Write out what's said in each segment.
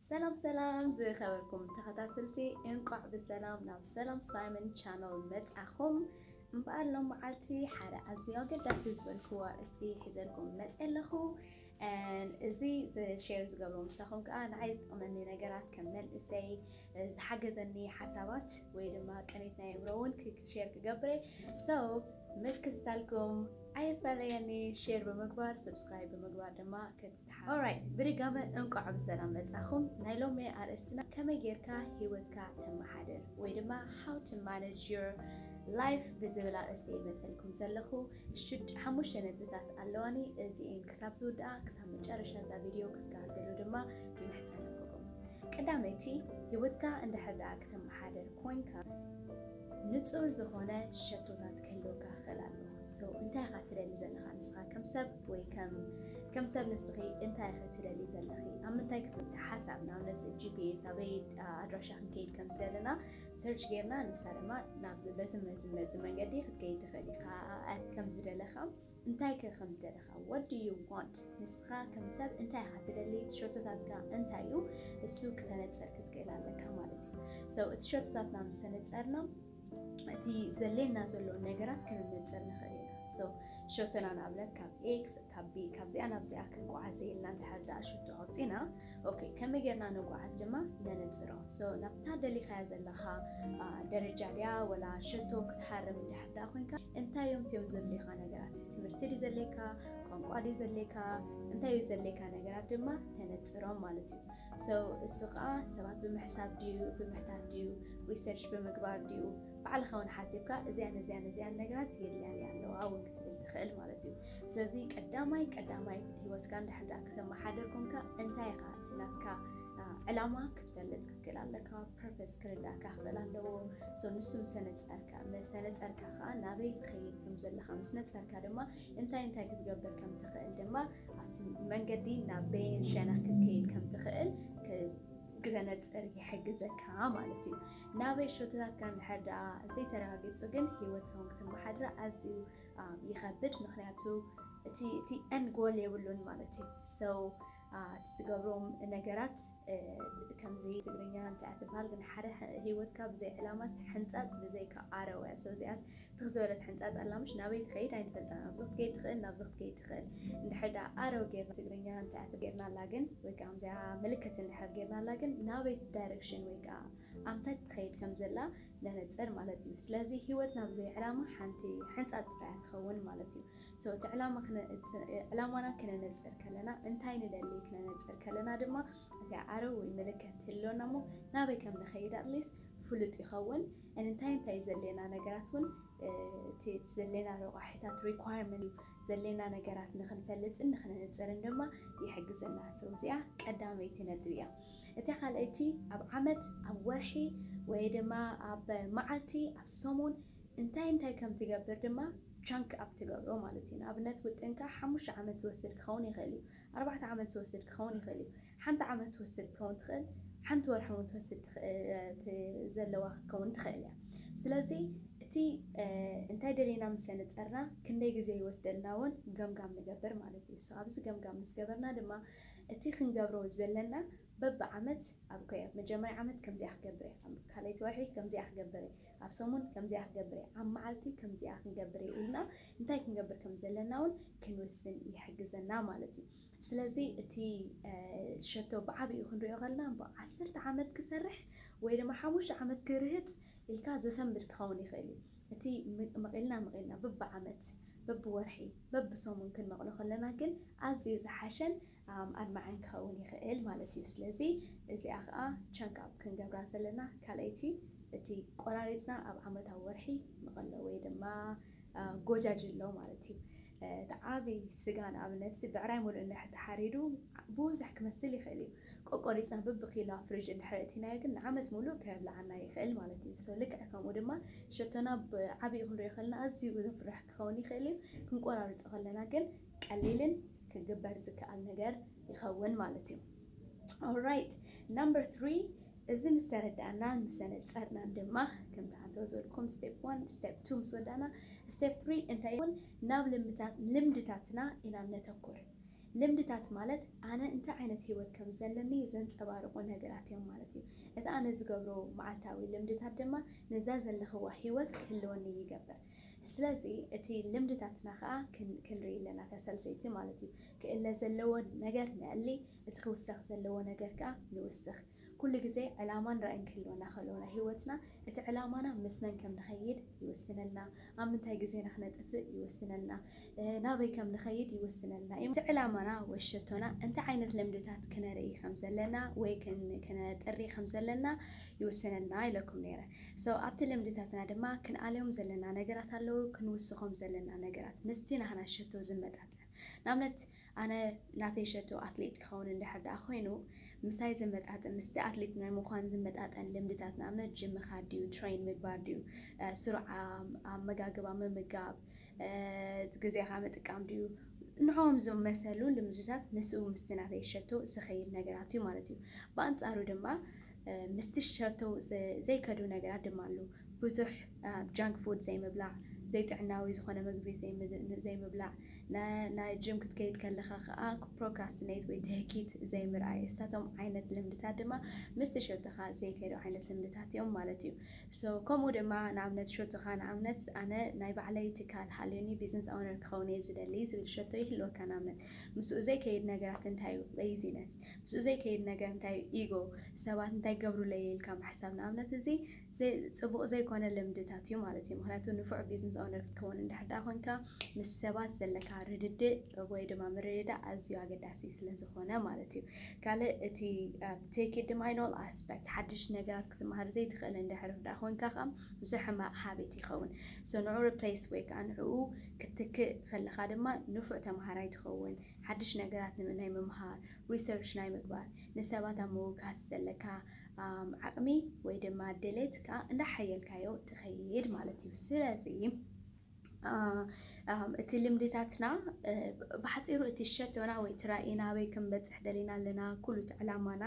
ሰላም ሰላም ዝኸበርኩም ተኸታትልቲ እንቋዕ ብሰላም ናብ ሰላም ሳይመን ቻነል መጻኹም እምበኣር ሎም መዓልቲ ሓደ ኣዝዩ ኣገዳሲ ዝበልክዎ ኣርእስቲ ሒዘልኩም መጽ ኣለኹ እዚ ሸር ዝገብሮ ምሳኹም ከዓ ንዓይ ዝጠቕመኒ ነገራት ከም መንእሰይ ዝሓገዘኒ ሓሳባት ወይ ድማ ቅኒት ናይ እምሮ እውን ሸር ክገብረ ሰው ምልክትታልኩም ኣይፈለየኒ ሼር ብምግባር ሰብስክራይብ ብምግባር ድማ Alright ብድጋመ እንቋዕ ብሰላም መጻኹም ናይ ሎሚ ኣርእስትና ከመይ ጌርካ ሂወትካ ተመሓድር ወይ ድማ how to manage your life ብዝብል ኣርእስቲ እየ መጸልኩም ዘለኹ ሽድ ሓሙሽተ ነጥብታት ኣለዋኒ እዚኤን ክሳብ ዝውድኣ ክሳብ መጨረሻ እዛ ቪድዮ ክትከታተሉ ድማ ይምሕጸነኩኩም ቀዳመይቲ ሂወትካ እንድሕር ደኣ ክተመሓድር ኮንካ ንጹር ዝኾነ ሸቶታት ክህልወካ ክኽእል ኣለዎ። So እንታይ ኢኻ ትደሊ ዘለኻ ንስኻ ከም ሰብ ወይ ከም ከም ሰብ ንስኺ እንታይ ኢኺ ትደሊ ዘለኺ ኣብ ምንታይ ክትምቲ ሓሳብ ንኣብነት ጂፒኤስ ኣበይ ኣድራሻ ክንከይድ ከም ዘለና ሰርች ጌርና ንሳ ድማ ናብዚ በዚ መዚ መዚ መንገዲ ክትከይድ ትኽእል ኢኻ ከምዝደለኻ እንታይ ከ ከም ዝደለኻ what do you want ንስኻ ከም ሰብ እንታይ ኢኻ ትደሊ እቲ ሸቶታትካ እንታይ እዩ እሱ ክተነጽር ክትክእል ኣለካ ማለት እዩ ሰው እቲ ሸቶታትና ምስ ተነጸርና እቲ ዘሌና ዘሎ ነገራት ክንነጽር ንኽእል ኢና ሰው ሸቶና ንኣብነት ካብ ኤክስ ካብ ቢ ካብዚኣ ናብዚኣ ክንቋዓዘ ኢልና እንድሕር ደኣ ሸቶ ኣውጺና ኦኬ ከመይ ጌርና ንጉዓዝ ድማ ነነጽሮ ሶ ናብታ ደሊኻያ ዘለኻ ደረጃ ድያ ወላ ሸቶ ክትሃርም እንድሕር ደኣ ኮንካ እንታይ እዮም እትዮም ዘድልዩኻ ነገራት ትምህርቲ ድዩ ዘድልየካ ቋንቋ ድዩ ዘድልየካ እንታይ እዩ ዘድልየካ ነገራት ድማ ተነጽሮም ማለት እዩ ሶ እሱ ከዓ ሰባት ብምሕሳብ ድዩ ብምሕታት ድዩ ሪሰርች ብምግባር ድዩ ባዕልኻ እውን ሓሲብካ እዚያን እዚያን እዚያን ነገራት የድልያኒ ኣለዋ እውን ክትብል ትኽእል ማለት እዩ ስለዚ ቀዳማይ ቀዳማይ ሂወትካ እንድሕር ድኣ ክተመሓድር ኮንካ እንታይ ኢኻ እቲ ናትካ ዕላማ ክትፈልጥ ክትክእል ኣለካ ፐርፐስ ክርዳእካ ክኽእል ኣለዎ ሶ ንሱ ምስ ነጸርካ ምስ ነጸርካ ከኣ ናበይ ትኸይድ ከም ዘለኻ ምስ ነጸርካ ድማ እንታይ እንታይ ክትገብር ከም ትኽእል ድማ ኣብቲ መንገዲ ናብ በየን ሸነኽ ክትከይድ ከም ትኽእል ክተነጽር ይሕግዘካ ማለት እዩ ናበይ ሸቶታትካ እንድሕር ድኣ ዘይተረጋጊጹ ግን ሂወትካ እውን ክትመሓድራ ኣዝዩ ይኸብድ ምኽንያቱ እቲ እቲ end goal የብሉን ማለት እዩ so እቲ ትገብሮም ነገራት ከምዚ ትግርኛ እንታይ እያ ትብሃል ግን ሓደ ሂወትካ ብዘይ ዕላማስ ሕንጻጽ ብዘይካ ኣረው እያ so እዚኣስ ትኽ ዝበለት ሕንጻጽ ኣላ ምሽ ናበይ ትኸይድ ኣይንፈልጣን ኣብዚ ክትከይድ ትኽእል ናብዚ ክትከይድ ትኽእል እንድሕር ደኣ ኣረው ጌርና ትግርኛ እንታይ እያ ጌርናላ ግን ወይ ከዓ ከምዚኣ ምልክት እንድሕር ጌርናላ ግን ናበይ direction ወይ ከዓ ኣንፈት ትኸይድ ከም ዘላ ነነጽር ማለት እዩ ስለዚ ሂወት ናብ ዘይ ዕላማ ሓንቲ ሕንጻጽ ጥራይ እያ ትኸውን ማለት እዩ so እቲ ዕላማ እቲ ዕላማና ክነነጽር ከለና እንታይ ንደሊ ክነነጽር ከለና ድማ እቲ ኣዕርብ ወይ ምልከት ትህልወና እሞ ናበይ ከም ንኸይድ at least ፍሉጥ ይኸውን and እንታይ እንታይ ዘድልየና ነገራት ውን እቲ ዘድልየና ረቋሒታት requirement እዩ ዘድልየና ነገራት ንኽንፈልጥን ንኽነነጽርን ድማ ይሕግዘና። So እዚኣ ቀዳመይቲ ነጥቢ እያ። እታ ካልኣይቲ ኣብ ዓመት፣ ኣብ ወርሒ ወይ ድማ ኣብ መዓልቲ፣ ኣብ ሰሙን እንታይ እንታይ ከም ትገብር ድማ chunk up ትገብሮ ማለት እዩ። ንኣብነት ውጥንካ ሓሙሽተ ዓመት ዝወስድ ክኸውን ይኽእል እዩ። ኣርባዕተ ዓመት ዝወስድ ክኸውን ይኽእል እዩ። ሓንቲ ዓመት ትወስድ ክትከውን ትኽእል፣ ሓንቲ ወርሒ ውን ትወስድ ትኽእ ዘለዋ ክትከውን ትኽእል እያ። ስለዚ እቲ እንታይ ደሊና ምሰ ንጸርና ክንደይ ግዜ ይወስደልና ውን ገምጋም ንገብር ማለት እዩ። ሶ ኣብዚ ገምጋም ምስ ገበርና ድማ እቲ ክንገብሮ ዘለና በቢ ዓመት ኣብ ኮይ ኣብ መጀመርያ ዓመት ከምዚኣ ክገብር እየ፣ ኣብ ካልኣይቲ ወርሒ ከምዚኣ ክገብር እየ፣ ኣብ ሰሙን ከምዚኣ ክገብር እየ፣ ኣብ መዓልቲ ከምዚኣ ክንገብር እየ ኢልና እንታይ ክንገብር ከም ዘለና ውን ክንውስን ይሕግዘና ማለት እዩ። ስለዚ እቲ ሸቶ ብዓቢኡ ክንሪኦ ከለና እምበኣር ዓሰርተ ዓመት ክሰርሕ ወይ ድማ ሓሙሽተ ዓመት ክርህጽ ኢልካ ዘሰንብድ ክኸውን ይኽእል እዩ። እቲ መቒልና መቒልና በብዓመት፣ በብወርሒ፣ በብሰሙን ክንመቕሎ ከለና ግን ኣዝዩ ዝሓሸን ኣድማዕን ክኸውን ይኽእል ማለት እዩ። ስለዚ እዚኣ ከኣ ቸንክ ኣፕ ክንገብራ ዘለና ካልኣይቲ እቲ ቆራሪጽና ኣብ ዓመታዊ ወርሒ መቐሎ ወይ ድማ ጎጃጅሎ ማለት እዩ። እቲ ዓቢ ስጋ ንኣብነትሲ ብዕራይ ምሉእ እንድሕር ተሓሪዱ ብዙሕ ክመስል ይኽእል እዩ። ቆቆሪጽና ብብኪሎ ኣብ ፍሪጅ እንድሕር ኣእቲናዮ ግን ንዓመት ምሉእ ከየብልዓና ይኽእል ማለት እዩ። so ልክዕ ከምኡ ድማ ሸቶና ብዓቢኡ ክንሪኦ ከለና ኣዝዩ ዘፍርሕ ክኸውን ይኽእል እዩ። ክንቆራርጾ ከለና ግን ቀሊልን ክግበር ዝከኣል ነገር ይኸውን ማለት እዩ። ኦራይት ናምበር ትሪ እዚ ምስ ተረዳእናን ምስ ኣነጸርናን ድማ ከምቲ ኣቶ ዘልኩም ስቴፕ ዋን ስቴፕ ቱ ምስ ወዳእና ስቴፕ ትሪ እንታይ ይኸውን ናብ ልምድታት ልምድታትና ኢና ነተኩር ልምድታት ማለት ኣነ እንታይ ዓይነት ህይወት ከም ዘለኒ ዘንጸባርቑ ነገራት እዮም ማለት እዩ እቲ ኣነ ዝገብሮ መዓልታዊ ልምድታት ድማ ነዛ ዘለኽዋ ህይወት ክህልወኒ ይገብር ስለዚ እቲ ልምድታትና ከኣ ክንርኢ ኣለና፣ እታ ሳልሰይቲ ማለት እዩ። ክእለ ዘለዎ ነገር ነእሊ፣ እቲ ክውሰኽ ዘለዎ ነገር ከኣ ንውስኽ። ኩሉ ግዜ ዕላማን ራእይን ክህልወና ከሎ ናይ ህይወትና እቲ ዕላማና ምስ መን ከም ንኸይድ ይውስነልና፣ ኣብ ምንታይ ግዜና ክነጥፍእ ይውስነልና፣ ናበይ ከም ንኸይድ ይውስነልና እዩ። እቲ ዕላማና ወይ ሸቶና እንታይ ዓይነት ልምድታት ክነርኢ ከም ዘለና ወይ ክነጥሪ ከም ዘለና ይውስነልና ኢለኩም ነይረ። So ኣብቲ ልምድታትና ድማ ክንኣልዮም ዘለና ነገራት ኣለዉ ክንውስኾም ዘለና ነገራት ምስቲ ናህና ሸቶ ዝመጣጠን ንኣብነት ኣነ ናተይ ሸቶ ኣትሌት ክኸውን እንድሕር ደኣ ኮይኑ ምሳይ ዝመጣጠን ምስቲ ኣትሌት ናይ ምዃን ዝመጣጠን ልምድታት ንኣብነት ጅም ምኻድ ድዩ ትሬን ምግባር ድዩ ስሩዕ ኣመጋግባ ምምጋብ ግዜኻ ምጥቃም ድዩ ንዖኦም ዝመሰሉ ልምድታት ምስኡ ምስቲ ናተይ ሸቶ ዝኸይድ ነገራት እዩ ማለት እዩ ብኣንጻሩ ድማ ምስ ቲሸርቱ ዘይከዱ ነገራት ድማ ኣሉ። ብዙሕ ጃንክ ፉድ ዘይምብላዕ፣ ዘይጥዕናዊ ዝኾነ ምግቢ ዘይምብላዕ፣ ናይ ጅም ክትከይድ ከለኻ ከኣ ፕሮካስትኔት ወይ ትህኪት ዘይምርኣይ እሳቶም ዓይነት ልምድታት ድማ ምስ ቲሸርትኻ ዘይከዱ ዓይነት ልምድታት እዮም ማለት እዩ። ሶ ከምኡ ድማ ንኣብነት ሸቶኻ ንኣብነት ኣነ ናይ ባዕለይ ትካል ሃልዩኒ ቢዝንስ ኣውነር ክኸውን እየ ዝደሊ ዝብል ሸቶ ይህልወካ ንኣብነት ምስኡ ዘይከይድ ነገራት እንታይ እዩ? Laziness ምስኡ ዘይከይድ ነገር እንታይ እዩ? ኢጎ፣ ሰባት እንታይ ክገብሩለይ'የ ኢልካ ምሕሳብ ንኣብነት፣ እዚ ጽቡቕ ዘይኮነ ልምድታት እዩ ማለት እዩ። ምኽንያቱ ንፉዕ ቢዝነስ ኦውነር ክትከውን እንድሕር ደኣ ኮንካ ምስ ሰባት ዘለካ ርድድእ ወይ ድማ ምርድዳእ ኣዝዩ ኣገዳሲ ስለ ዝኾነ ማለት እዩ። ካልእ እቲ ኣብ ቴክ ድማ ኢን ኦል ኣስፐክት ሓድሽ ነገራት ክትመሃር ዘይትኽእል እንድሕር ደኣ ኮንካ ከኣ ምስኡ ሕማቕ ሃቢት ይኸውን። ሶ ንዕኡ ሪፕለይስ ወይ ከኣ ንዕኡ ክትትክእ ከለኻ ድማ ንፉዕ ተመሃራይ ትኸውን። ሓድሽ ነገራት ንምናይ ምምሃር፣ Research፣ ናይ ምግባር፣ ንሰባት ኣብ ምውካስ ዘለካ ዓቕሚ ወይ ድማ ድሌት ከኣ እንዳሓየልካዮ ትኸይድ ማለት እዩ። ስለዚ እቲ ልምድታትና ብሓጺሩ እቲ ሸቶና ወይ እቲ ራኢና ኣበይ ክንበጽሕ ደሊና ኣለና፣ ኩሉ እቲ ዕላማና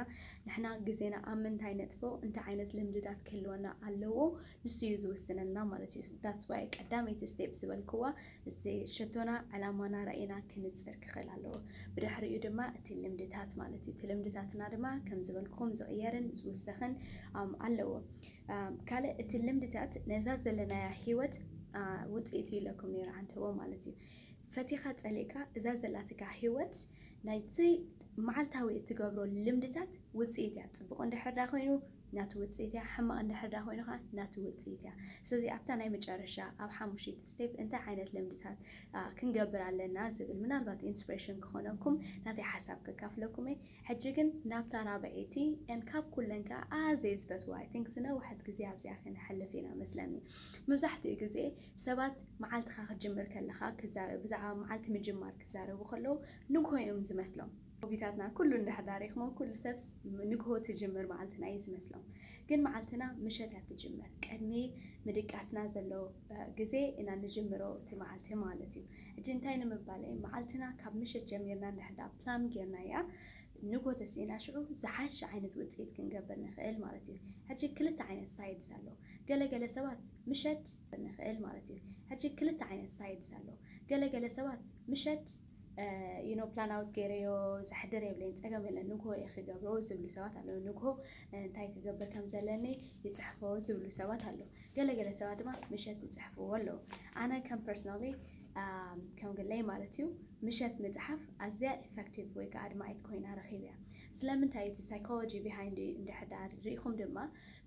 ንሕና ግዜና ኣብ ምንታይ ነጥፎ፣ እንታይ ዓይነት ልምድታት ክህልወና ኣለዎ ንሱ እዩ ዝውስነልና ማለት እዩ። That's why ቀዳመይቲ Step ዝበልክዋ እዚ ሸቶና ዕላማና ራኢና ክንጽር ክኽእል ኣለዎ። ብድሕሪኡ ድማ እቲ ልምድታት ማለት እዩ። እቲ ልምድታትና ድማ ከም ዝበልኩኹም ዝቕየርን ዝውሰኽን ኣለዎ። ካልእ እቲ ልምድታት ነዛ ዘለናያ ህይወት ውጽኢት እዩ ኢለኩም ነይረ ዓንተቦ ማለት እዩ። ፈቲኻ ጸሊእካ እዛ ዘላትካ ህይወት ናይቲ መዓልታዊ እትገብሮ ልምድታት ውጽኢት እያ። ጽቡቕ እንድሕር ዳኣ ኮይኑ ናቱ ውጽኢት እያ ሕማቅ እንድሕር ድኣ ኮይኑ ከኣ ናቱ ውጽኢት እያ ስለዚ ኣብታ ናይ መጨረሻ ኣብ ሓሙሽይቲ step እንታይ ዓይነት ልምድታት ክንገብር ኣለና ዝብል ምናልባት inspiration ክኾነኩም ናተይ ሓሳብ ከካፍለኩም እየ ሕጂ ግን ናብታ ራብዐይቲ and ካብ ኩለን ከኣ ኣዝየ ዝፈትዋ I think ዝነውሐት ግዜ ኣብዚኣ ከነሕልፍ ኢና መስለኒ ምብዛሕትኡ ግዜ ሰባት መዓልትኻ ክትጅምር ከለኻ ክዛረብ ብዛዕባ መዓልቲ ምጅማር ክዛረቡ ከለዉ ንግሆ እዮም ዝመስሎም ሆቢታትና ኩሉ እንድሕር ድኣ ሪእክሞ ኩሉ ሰብስ ንግሆ ትጅምር መዓልትና እዩ ዝመስሎም ግን መዓልትና ምሸት እያ ትጅምር ቅድሚ ምድቃስና ዘሎ ግዜ ኢና ንጅምሮ እቲ መዓልቲ ማለት እዩ ሕጂ እንታይ ንምባል እየ መዓልትና ካብ ምሸት ጀሚርና እንድሕር ድኣ ፕላም ጌርናያ ንግሆ ተሲእና ሽዑ ዝሓሸ ዓይነት ውጽኢት ክንገብር ንክእል ማለት እዩ ሕጂ ክልተ ዓይነት ሳይድስ ኣሎ ገለ ገለ ሰባት ምሸት ንክእል ማለት እዩ ሕጂ ክልተ ዓይነት ሳይድስ ኣሎ ገለ ገለ ሰባት ምሸት you know plan out ጌረዮ ዘሕድር የብለይን ጸገም የለን ንግሆ እየ ክገብሮ ዝብሉ ሰባት ኣለዉ ንግሆ እንታይ ክገብር ከም ዘለኒ ይጽሕፎ ዝብሉ ሰባት ኣለዉ ገለ ገለ ሰባት ድማ ምሸት ዝጽሕፍዎ ኣለዉ ኣነ ከም ፐርሰናሊ ከም ግለይ ማለት እዩ ምሸት ምጽሓፍ ኣዝያ ኢፌክቲቭ ወይ ከዓ ኣድማዒት ኮይና ረኺብ እያ ስለምንታይ እቲ ሳይኮሎጂ ቢሃይንድ እንድሕዳር ርኢኹም ድማ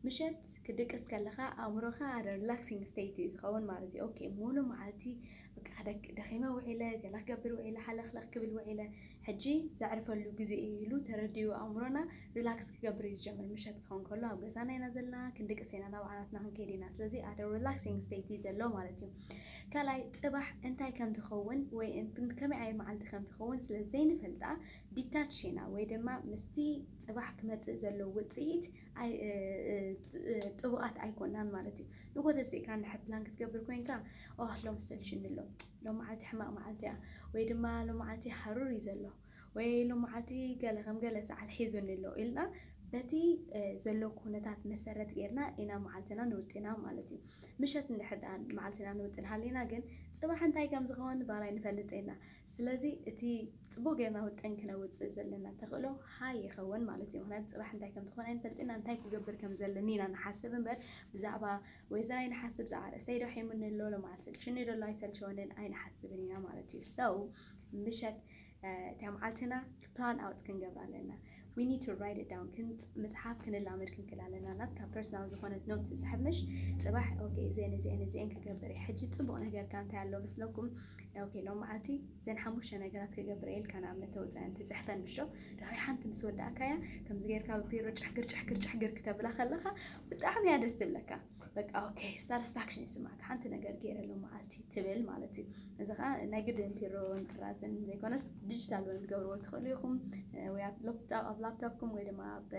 ምሸት ክድቅስ ከለኻ ኣእምሮኻ ኣደ ሪላክሲንግ ስቴት እዩ ዝኸውን ማለት እዩ ኦኬ ሙሉ መዓልቲ በቃ ደኺመ ውዒለ፣ ገለ ክገብር ውዒለ፣ ሃለኽለኽ ክብል ውዒለ፣ ሕጂ ዘዕርፈሉ ግዜ እዩ ኢሉ ተረዲኡ ኣእምሮና ሪላክስ ክገብር እዩ ዝጀምር። ምሸት ክኸውን ከሎ ኣብ ገዛና ኢና ዘለና፣ ክንድቅስ ኢና፣ ናብ ዓራትና ክንከይድ ኢና፣ ስለዚ at a relaxing state እዩ ዘሎ ማለት እዩ። ካልኣይ፣ ጽባሕ እንታይ ከም ትኸውን ወይ ከመይ ዓይነት መዓልቲ ከም ትኸውን ስለ ዘይንፈልጣ detach ኢና ወይ ድማ ምስቲ ጽባሕ ክመጽእ ዘሎ ውጽኢት ጥቡቓት ኣይኮናን ማለት እዩ። ንግሆ ተሲእካ እንድሕር ፕላን ክትገብር ኮይንካ፣ ኦህ ሎሚ ሰልችዩኒ ኣሎ፣ ሎሚ መዓልቲ ሕማቕ መዓልቲ እያ፣ ወይ ድማ ሎሚ መዓልቲ ሃሩር እዩ ዘሎ፣ ወይ ሎሚ መዓልቲ ገለ ከም ገለ ሰዓል ሒዙኒ ኣሎ ኢልና በቲ ዘሎ ኩነታት መሰረት ገይርና ኢና መዓልትና ንውጥና ማለት እዩ። ምሸት እንድሕር ደኣ መዓልትና ንውጥን ሃሊና ግን፣ ጽባሕ እንታይ ከም ዝኸውን ባል ኣይንፈልጥን ኢና። ስለዚ እቲ ጽቡቕ ጌርና ውጥን ክነውጽእ ዘለና ተኽእሎ ሃይ ይኸውን ማለት እዩ። ምኽንያቱ ጽባሕ እንታይ ከም ትኾን ኣይንፈልጥን ኢና፣ እንታይ ክገብር ከም ዘለኒ ኢና ንሓስብ እምበር ብዛዕባ ወይዘር ኣይንሓስብ፣ ብዛዕባ ርእሰይዶ ሒሙኒ ኣሎ፣ ሎምዓልቲ ሰልችዩኒ ዶ ኣሎ ኣይሰልቸወንን ኣይንሓስብን ኢና ማለት እዩ። So ምሸት እታ መዓልትና። ፓን ኣውት ክንገብር ኣለና we need to write it down ክንጽ ምጽሓፍ ክንላመድ ክንክል ኣለና ናትካ ፐርሰናል ዝኾነት ኖት ትጽሕብ ምሽ ጽባሕ ኦኬ እዚኤን እዚኤን እዚኤን ክገብር እየ ሕጂ ጽቡቕ ነገርካ እንታይ ኣሎ መስለኩም ኦኬ ሎም መዓልቲ ዘን ሓሙሽተ ነገራት ክገብር እየ ኢልካ ንኣብነት ተውጽአን ትጽሕፈን ምሾ ድሕሪ ሓንቲ ምስ ወዳእካያ ከምዚ ጌርካ ብቢሮ ጭሕግር ጭሕግር ጭሕግር ክተብላ ከለኻ ብጣዕሚ እያ ደስ ትብለካ በቃ ኦኬ ሳትስፋክሽን ይስማዕካ ሓንቲ ነገር ገይረ ኣሎ መዓልቲ ትብል ማለት እዩ እዚ ከዓ ናይ ግድን ቢሮን ጥራዝን ዘይኮነስ ዲጂታል እውን ትገብርዎ ትኽእሉ ኢኹም ወይ ኣብ ላፕቶፕኩም ወይ ድማ ኣብ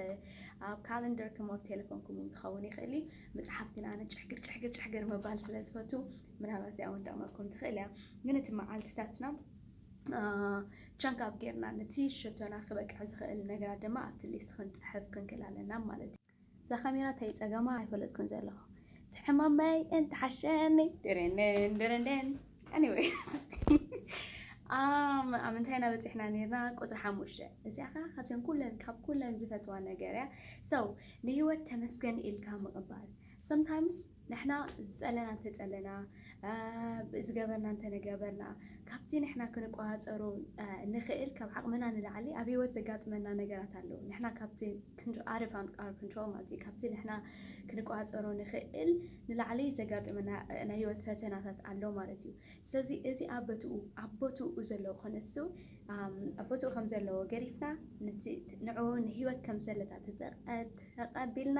ካለንደርኩም ኣብ ቴሌፎንኩም እውን ክኸውን ይኽእል እዩ መፅሓፍ ግን ኣነ ጭሕግር ጭሕግር ጭሕግር ምባል ስለ ዝፈቱ ምናልባት እዚኣ እውን ጠቕመኩም ትኽእል እያ ግን እቲ መዓልትታትና ቻንክ ኣብ ጌርና ነቲ ሸቶና ክበቅዕ ዝኽእል ነገራት ድማ ኣብቲ ሊስት ክንፅሕፍ ክንክእል ኣለና ማለት እዩ እዛ ካሜራ ታይ ጸገማ ኣይፈለጥኩን ዘለኹ እቲ ሕማመይ እንተሓሸኒ ድርንን ድርንን Anyways ኣም ኣብ ምንታይ ኢና በጺሕና ነይርና ቁጽሪ ሓሙሽተ እዚኣ ከዓ ካብዘን ኩለን ካብ ኩለን ዝፈትዋ ነገር እያ ሰው ንህይወት ተመስገን ኢልካ ምቕባል ሰምታይምስ ንሕና ዝጸለና እንተጸለና፣ ዝገበርና እንተነገበርና፣ ካብቲ ንሕና ክንቆጻጸሮ እንኽእል ካብ ዓቕምና ንላዕሊ ኣብ ህይወት ዘጋጥመና ነገራት ኣለዉ። ንሕና ካብቲ out of our control ማለት እዩ፣ ካብቲ ንሕና ክንቆጻጸሮ እንኽእል ንላዕሊ ዘጋጥመና ናይ ህይወት ፈተናታት ኣሎ ማለት እዩ። ስለዚ እዚ ኣብ በትኡ ኣብ ቦትኡ ዘሎ ክንሱ ኣብ ቦትኡ ከም ዘለዎ ገዲፍና ነቲ ንዕኡ ንህይወት ከም ዘለታ ተቐቢልና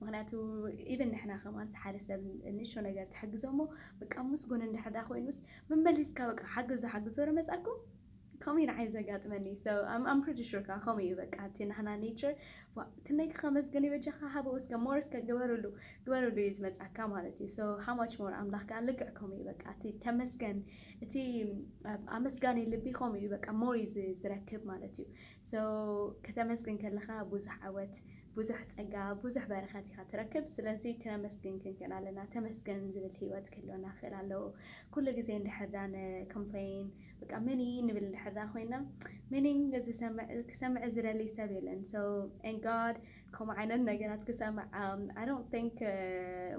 ምክንያቱ ኢቭን ንሕና ከማንስ ሓደ ሰብ ንእሽቶ ነገር ትሕግዞ እሞ በቃ ምስጉን እንድሕር ዳ ኮይኑስ መመሊስካ በቃ ሓግዞ ሓግዞ ዶ መጻኩም ከምኡ እዩ ንዓይ ዘጋጥመኒ so I'm I'm pretty sure ከዓ ከምኡ እዩ በቃ እቲ ናህና nature ዋ ክንደይ ከመስግን እዩ በጃካ ሃቦ እስከ more እስከ ግበርሉ ግበርሉ እዩ ዝመጽኣካ ማለት እዩ so how much more ኣምላኽ ከዓ ልክዕ ከምኡ እዩ በቃ እቲ ተመስገን እቲ ኣብ ኣመስጋኒ ልቢ ከምኡ እዩ በቃ more እዩ ዝ- ዝረክብ ማለት እዩ So ከተመስግን ከለኻ ብዙሕ ዓወት ብዙሕ ጸጋ ብዙሕ በረኸት ኢኻ ትረክብ ስለዚ ክነመስግን ክንክእል ኣለና ተመስገን ዝብል ሂወት ክህልወና ክኽእል ኣለዎ ኩሉ ግዜ እንድሕር ድኣ ን Complain በቃ Many ንብል እንድሕር ድኣ ኮይና Meaning ዝሰምዕ ክሰምዕ ዝደሊ ሰብ የለን so and God ከምኡ ዓይነት ነገራት ክሰምዕ ኣይ ዶንት ቲንክ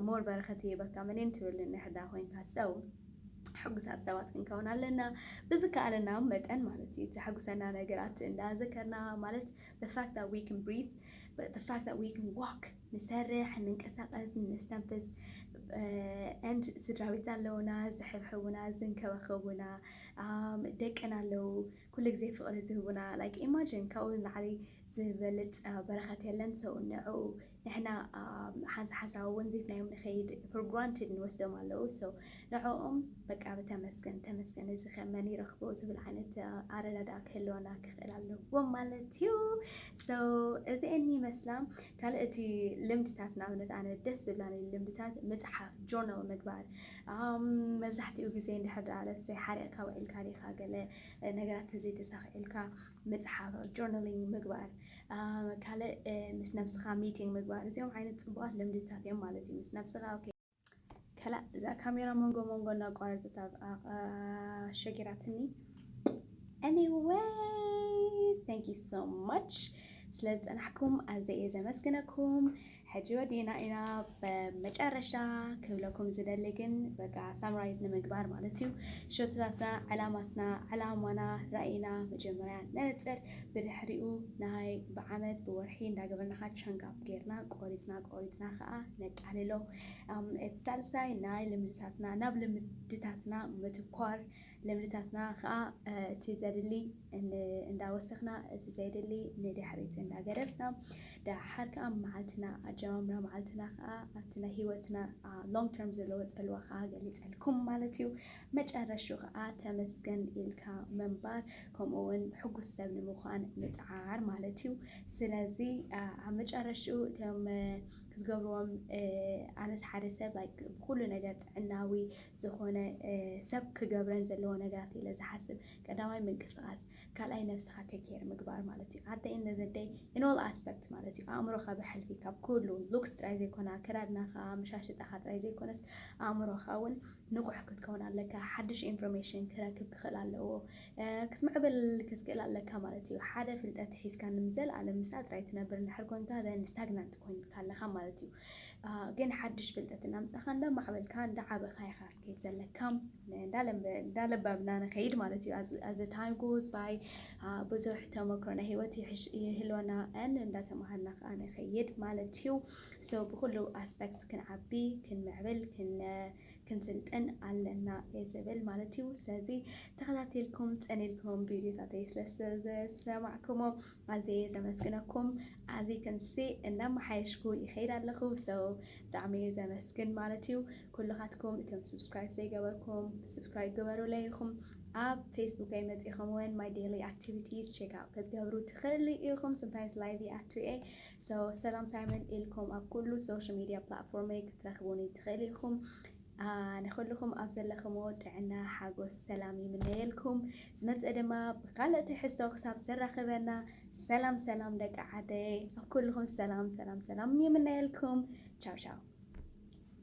ሞር በረከት ይህበካ መኔን ትብል ንሕዳ ኮይንካ ሰው ሕጉሳት ሰባት ክንከውን ኣለና ብዝከኣለና መጠን ማለት እዩ ዘሐጉሰና ነገራት እንዳዘከርና ማለት the fact that we can breathe the fact that we can walk ንሰርሕ ንንቀሳቀስ ነስተንፍስ and ስድራ ቤት ኣለውና ዝሕብሕቡና ዝንከባኸቡና ደቅና ኣለው ኩሉ ግዜ ፍቅሪ ዝህቡና like imagine ካብኡ ንላዕሊ ዝበልጽ በረከት የለን so ንዕኡ ንሕና ሓንሳ ሓንሳብ ውን ዚትናዮም ንከይድ for granted ንወስዶም ኣለዉ so ንዕኦም በቃ ብተመስገን ተመስገን እዚ ከ መን ይረክቦ ዝብል ዓይነት ኣረዳድኣ ክህልወና ክክእል ኣለዎ ማለት እዩ so እዚኤን ይመስላ ካልእ እቲ ልምድታት ንኣብነት ኣነ ደስ ዝብላኒ ልምድታት ምጽሓፍ journal ምግባር መብዛሕቲኡ ግዜ እንድሕር ደኣ let's say ሓሪቕካ ውዒልካ ዲኻ ገለ ነገራት ተዘይተሳኺዕልካ ምጽሓፍ ጆርናሊንግ ምግባር ካልእ ምስ ነብስኻ ሚቲንግ ምግባር እዚኦም ዓይነት ጽቡቓት ልምድታት እዮም ማለት እዩ ምስ ነብስኻ ከላእ እዛ ካሜራ መንጎ መንጎ እናቋረጸት ሸጊራትኒ ኤኒዌይ ታንክ ዩ ሶ ማች ስለ ዝጸናሕኩም ኣዘየ ዘመስግነኩም ሕጂ ወዲእና ኢና በመጨረሻ ክብለኩም ዝደሊ ግን በቃ ሳምራይዝ ንምግባር ማለት እዩ ሸቶታትና ዕላማትና ዕላማና ራእይና መጀመርያ ነነጽር ብድሕሪኡ ናይ ብዓመት ብወርሒ እንዳገበርናኻ ቻንጋፕ ጌርና ቆሪጽና ቆሪጽና ከዓ ነቃልሎ እቲ ሳልሳይ ናይ ልምድታትና ናብ ልምድታትና ምትኳር ልምድታትና ከኣ እቲ ዘድሊ እንዳወሰኽና እቲ ዘይድሊ ንድሕሪት እንዳገደፍና ደሓር ከኣ መዓልትና ኣጀማምራ መዓልትና ከኣ ኣብቲ ናይ ሂወትና ሎንግ ተርም ዘለዎ ጽልዋ ከኣ ገሊጸልኩም ማለት እዩ። መጨረሽኡ ከኣ ተመስገን ኢልካ ምንባር ከምኡ ውን ሕጉስ ሰብ ንምዃን ምጽዓር ማለት እዩ። ስለዚ ኣብ መጨረሽኡ እቶም ክትገብርዎም ኣነስ ሓደ ሰብ ብኹሉ ነገር ጥዕናዊ ዝኾነ ሰብ ክገብረን ዘለዎ ነገራት ኢለ ዝሓስብ ቀዳማይ ምንቅስቃስ ካልኣይ ነብስኻ take care ምግባር ማለት እዩ at the end of the day in all aspect ማለት እዩ ኣእምሮኻ ብሕልፊ ካብ ኩሉ looks ጥራይ ዘይኮነ ኣከዳድናኻ ኣመሻሽጣኻ ጥራይ ዘይኮነስ ኣእምሮኻ እውን ንቑሕ ክትከውን ኣለካ ሓድሽ ኢንፎርሜሽን ክረክብ ክኽእል ኣለዎ ክትምዕብል ክትክእል ኣለካ ማለት እዩ ሓደ ፍልጠት ሒዝካ ንምዘለኣለም ምስኣ ጥራይ ትነብር እንድሕር ኮንካ then stagnant ኮይንካ ኣለኻ ማለት እዩ ግን ሓድሽ ፍልጠት እናምጻኻ እንዳማዕበልካ እንዳዓበኻ ኢኻ ክትከይድ ዘለካ እንዳለበብና ንኸይድ ማለት እዩ as the time goes by ብዙሕ ተመክሮ ናይ ሂወት ይህልወና ን እንዳተማሃርና ከዓ ንኸይድ ማለት እዩ so ብኩሉ ኣስፔክት ክንዓቢ ክንምዕብል ክንስልጥን ኣለና እየ ዝብል ማለት እዩ ስለዚ ተኸታቲልኩም ፀኒልኩም ቪድዮታተይ ስለዝሰማዕኩሞ ኣዝየየ ዘመስግነኩም ኣዚ ክንሲ እናማሓየሽኩ ይከይድ ኣለኩ so ብጣዕሚ እየ ዘመስግን ማለት እዩ ኩሉካትኩም እቶም subscribe ዘይገበርኩም subscribe ግበሩለይ ኢኩም ኣብ ፌስቡከይ መጺኹም ውን my daily activities check out ክትገብሩ ትክእሉ ኢኩም sometimes live ይኣቱ እየ so ሰላም ሳይመን ኢልኩም ኣብ ኩሉ social media platform ክትረክቡኒ ትክእሉ ኢኩም ንኹሉኹም ኣብ ዘለኽሞ ጥዕና ሓጎስ ሰላም ይምነየልኩም ዝመጽእ ድማ ብኻልእ ትሕዝቶ ክሳብ ዘራኽበና ሰላም ሰላም ደቂ ዓደይ ኣብ ኩሉኹም ሰላም ሰላም ሰላም ይምነየልኩም ቻው ቻው።